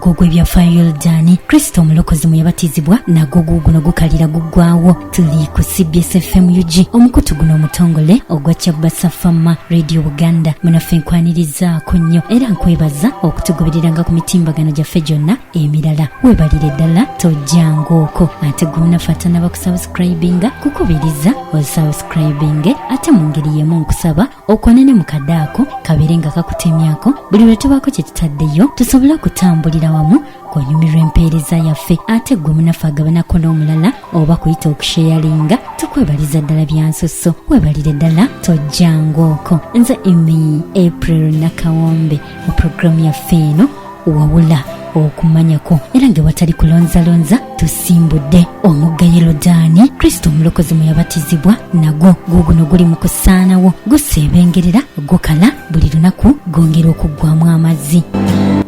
ogwo gw'ebyafaayo yoludaani kristo omulokozi mwe yabatizibwa nagwo guuguno gukalira guggwawo tuli ku cbs fm ug omukutu guno omutongole ogwa kyabasa fama radio buganda munaffe nkwanirizaako nnyo era nkwebaza okutugobereranga ku mitimbagano gyaffe gyonna emirala webalire ddala tojjangooko ate gwonafaatana bakusubscribinga kukubiriza osubscribinge ate mu ngeri yemu nkusaba okwane ne mukadde ako kabeere nga kakutemyako buli lwe tubaako kye tutaddeyo tusobole okutambulira wamu ng'onyumirwa empeereza yaffe ate gwe munaffe agabanako n'omulala oba kuyita okusheyalinga tukwebaliza ddala byansusso webalire ddala tojjangaoko nze emi april nakawombe mu puroguramu yaffe eno wawula okumanyako era nga watali kulonzalonza tusimbudde omugga yerodaani kristo omulokozi mwe yabatizibwa nagwo guuguno guli mu kusaanawo guseebengerera gukala buli lunaku gwongera okuggwamu amazzi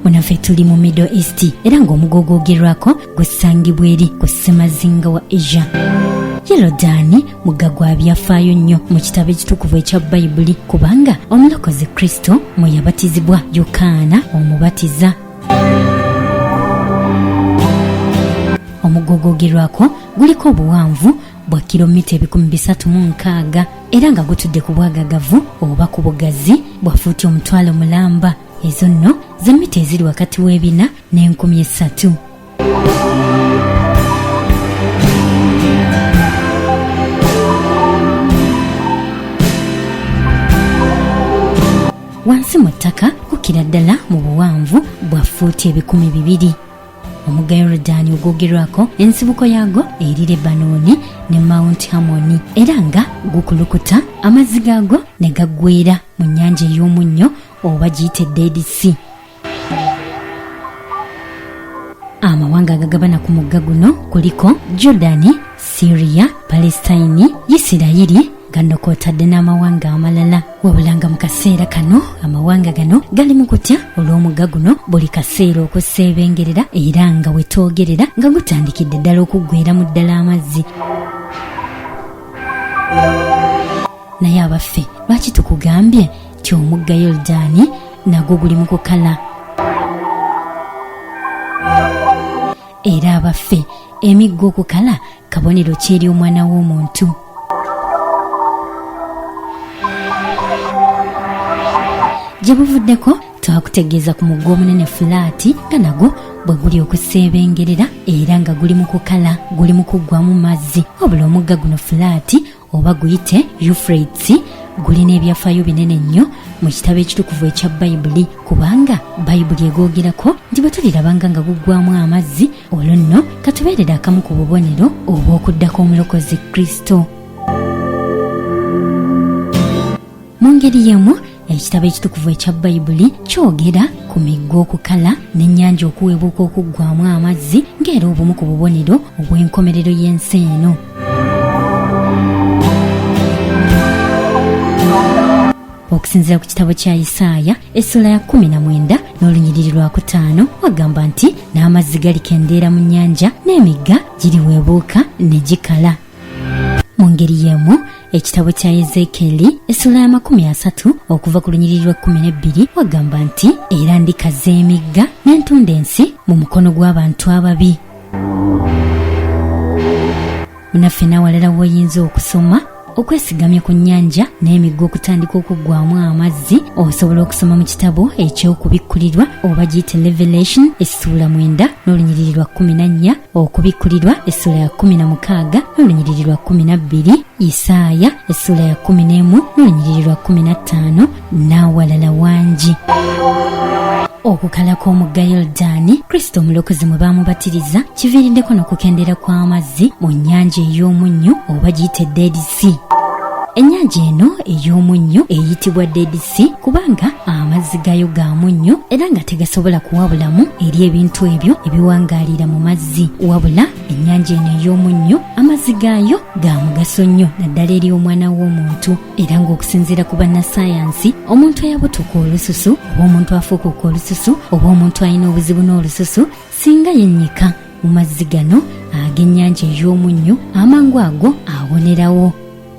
munaffe tuli mu middle east era ng'omuga ogwogerwako gusangibwa eri ku ssemazinga wa asia yerodaani mugga gwa byafaayo nnyo mu kitabo ekitukuvu ekya bayibuli kubanga omulokozi kristo mwe yabatizibwa yokaana omubatiza omugogogerwako guliko obuwanvu bwa kilomita ebikumi bisatu mu nkaaga era nga gutudde ku bwagagavu oba ku bugazi bwa fuuti omutwalo mulamba ezo nno z'emmita eziri wakati w'ebina n'enkumi essatu wansi mu ttaka kukira ddala mu buwanvu bwa fuuti ebikumi bibiri omugga yorudaani ogwogerwako ensibuko yaago eri lebanooni ne mount hamoni era nga gukulukuta amazzi gaago ne gaggweera mu nnyanja ey'omunnyo oba giyite deedisi amawanga agagabana ku mugga guno kuliko jordani siriya palesitayini isirayiri gano kwotadde n'amawanga amalala wabula nga mu kaseera kano amawanga gano gali mu kutya olw'omugga guno buli kaseera okuseebengerera era nga wetwogerera nga gutandikidde ddala okuggweramu ddala amazzi naye abaffe lwaki tukugambye nti omugga yoludaani nagwo guli mu kukala era abaffe emigga okukala kabonero kyeri omwana w'omuntu gye buvuddeko twakutegeeza ku mugga omunene fulaati nga nagwo bwe guli okuseebengerera era nga guli mu kukala guli mu kuggwamu mazzi wabula omugga guno fulaati oba guyite eufrates gulina ebyafaayo binene nnyo mu kitabo ekitukuvu ekya bayibuli kubanga bayibuli egoogerako nti bwe tulirabanga nga guggwamu amazzi olwo nno katubeerera akamu ku bubonero obw'okuddako omulokozi kristo mu ngeri y'emu ekitabo ekitukuvu ekya bayibuli kyogera ku migga okukala n'ennyanja okuwebuuka okuggwamu amazzi ng'era obumu ku bubonero obw'enkomerero y'ensi eno okusinzira ku kitabo kya isaaya essula ya kumi na mwenda n'olunyiriri lwa kutaano wagamba nti n'amazzi galikendeera mu nnyanja n'emigga giriweebuuka ne gikala mu ngeri y'emu ekitabo kya ezeekeeri essula y'amakumi asatu okuva ku lunyiriri lw'ekkumi n'ebbiri wagamba nti era ndikaza emigga n'entunda ensi mu mukono gw'abantu ababi munaffe n'awalala w'oyinza okusoma okwesigamya ku nnyanja n'emigga okutandika okuggwamu amazzi osobola okusoma mu kitabo eky'okubikkulirwa oba giyite revelation essuula mwenda n'olunyiriri lwa kkumi na nnya okubikkulirwa essula ya kkumi na mukaaga n'olunyiriri lwa kkumi na bbiri isaaya essula ya kkumi n'emu n'olunyiriri lwa kkumi na ttaano n'awalala wangi okukala kw'omugga yoludaani kristo omulokozi mwe baamubatiriza kiviiriddeko n'okukendeera kw'amazzi mu nnyanja ey'omunnyo oba giyite dead sea ennyanja eno ey'omunnyo eyitibwa dead sea kubanga amazzi gayo ga munnyo era nga tegasobola kuwabulamu eri ebintu ebyo ebiwangaalira mu mazzi wabula ennyanja eno ey'omunnyo amazzi gaayo ga mugaso nnyo naddala eri omwana w'omuntu era ng'okusinziira ku bannasayansi omuntu eyabutuka olususu oba omuntu afuukuka olususu oba omuntu alina obuzibu n'olususu singa yennyika mu mazzi gano ag'ennyanja ey'omunnyo amangu ago awonerawo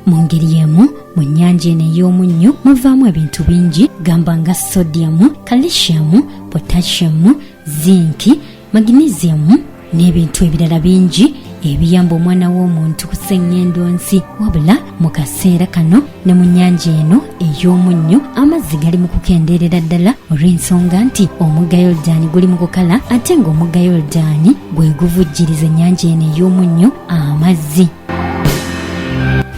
mu ngeri y'emu mu nnyanja eno ey'omunnyo muvaamu ebintu bingi gamba nga sodiyamu kalisiyamu potashiyamu zinki magnesiyamu n'ebintu ebirala bingi ebiyamba omwana w'omuntu kusenga endonsi wabula mu kaseera kano ne mu nnyanja eno ey'omunnyo amazzi gali mu kukendeerera ddala olw'ensonga nti omugga yoludaani guli mu kukala ate ng'omugga yoludaani gwe guvujjiriza ennyanja eno ey'omunnyo amazzi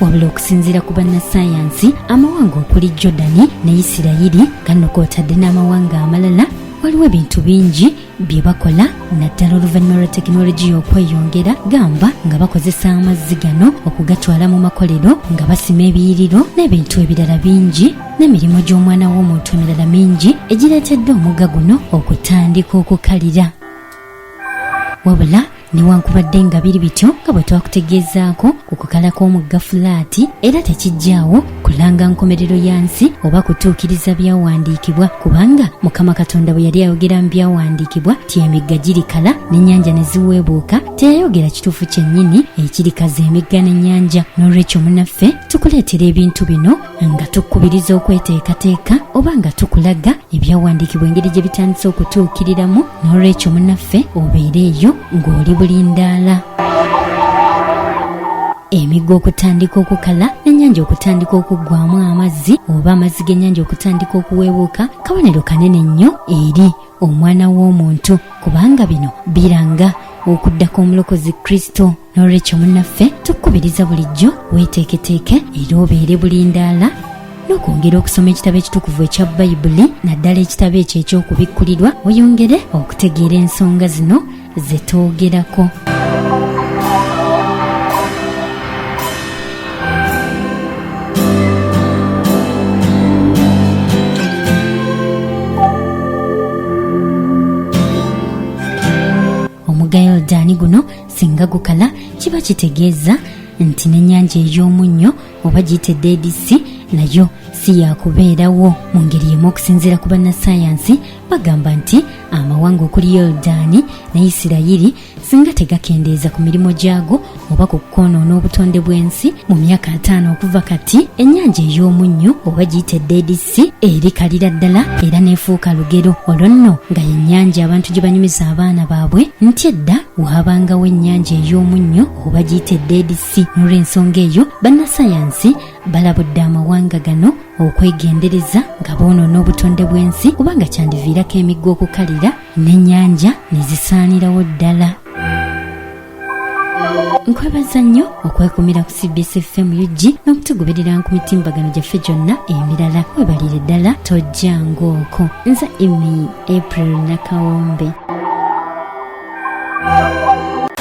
wabula okusinziira ku bannasayansi amawanga okuli jordani ne isirayiri gano kwotadde n'amawanga amalala waliwo ebintu bingi bye bakola naddala oluvannyuma lwa tekinologiya okweyongera gamba nga bakozesa amazzi gano okugatwala mu makolero nga basima ebiyiriro n'ebintu ebirala bingi n'emirimu gy'omwana w'omuntu emirala mingi egireetedde omugga guno okutandika okukalira wabula newankubadde nga biri bityo nga bwe twakutegeezaako ku kukala kw'omugga fulaati era tekijjaawo kulanga nkomerero ya nsi oba kutuukiriza byawandiikibwa kubanga mukama katonda bwe yali ayogera mu byawandiikibwa ti emigga girikala n'ennyanja ne ziweebuuka teyayogera kituufu kyennyini ekirikaza emigga n'ennyanja n'olwekyo munaffe tukuleetera ebintu bino nga tukubiriza okweteekateeka oba nga tukulaga ebyawandiikibwa engeri gye bitandise okutuukiriramu n'olwekyo munaffe obeere eyo ng'oli bulindaala emigga okutandika okukala n'ennyanja okutandika okuggwamu amazzi oba amazzi g'ennyanja okutandika okuweebuuka kabonero kanene nnyo eri omwana w'omuntu kubanga bino biranga okuddako omulokozi kristo n'olwekyo munnaffe tukukubiriza bulijjo weeteeketeeke era obeere bulindaala n'okwongera okusoma ekitabo ekitukuvu ekya bayibuli naddala ekitabo ekyo eky'okubikkulirwa oyongere okutegeera ensonga zino ze twogerako omuga yoludaani guno singa gukala kiba kitegeeza nti n'ennyanja ey'omunnyo oba giyite dedisi nayo si yakubeerawo mu ngeri yemu okusinziira ku bannasayansi bagamba nti amawanga okuli yoludaani ne isirayiri singa tegakendeeza ku mirimu gyago oba ku kwonoona obutonde bw'ensi mu myaka ataano okuva kati ennyanja ey'omunnyo oba giyite dedisi erikalira ddala era n'efuuka lugero olwo nno nga yennyanja abantu gye banyumiza abaana baabwe nti edda waabangawo ennyanja ey'omunnyo oba giyite dedisi n'olw'ensonga eyo bannasayansi balabudde amawanga gano okwegendereza nga boonoona obutonde bw'ensi kubanga kyandiviirako emigga okukalira n'ennyanja ne zisaanirawo ddala nkwebaza nnyo okwekumira ku cbs fm ug n'okutugoberera ku mitimbagano gyaffe gyonna emirala webalire ddala tojja ng'oko nze emi april nakawombe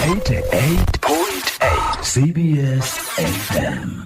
88.8 cbs fm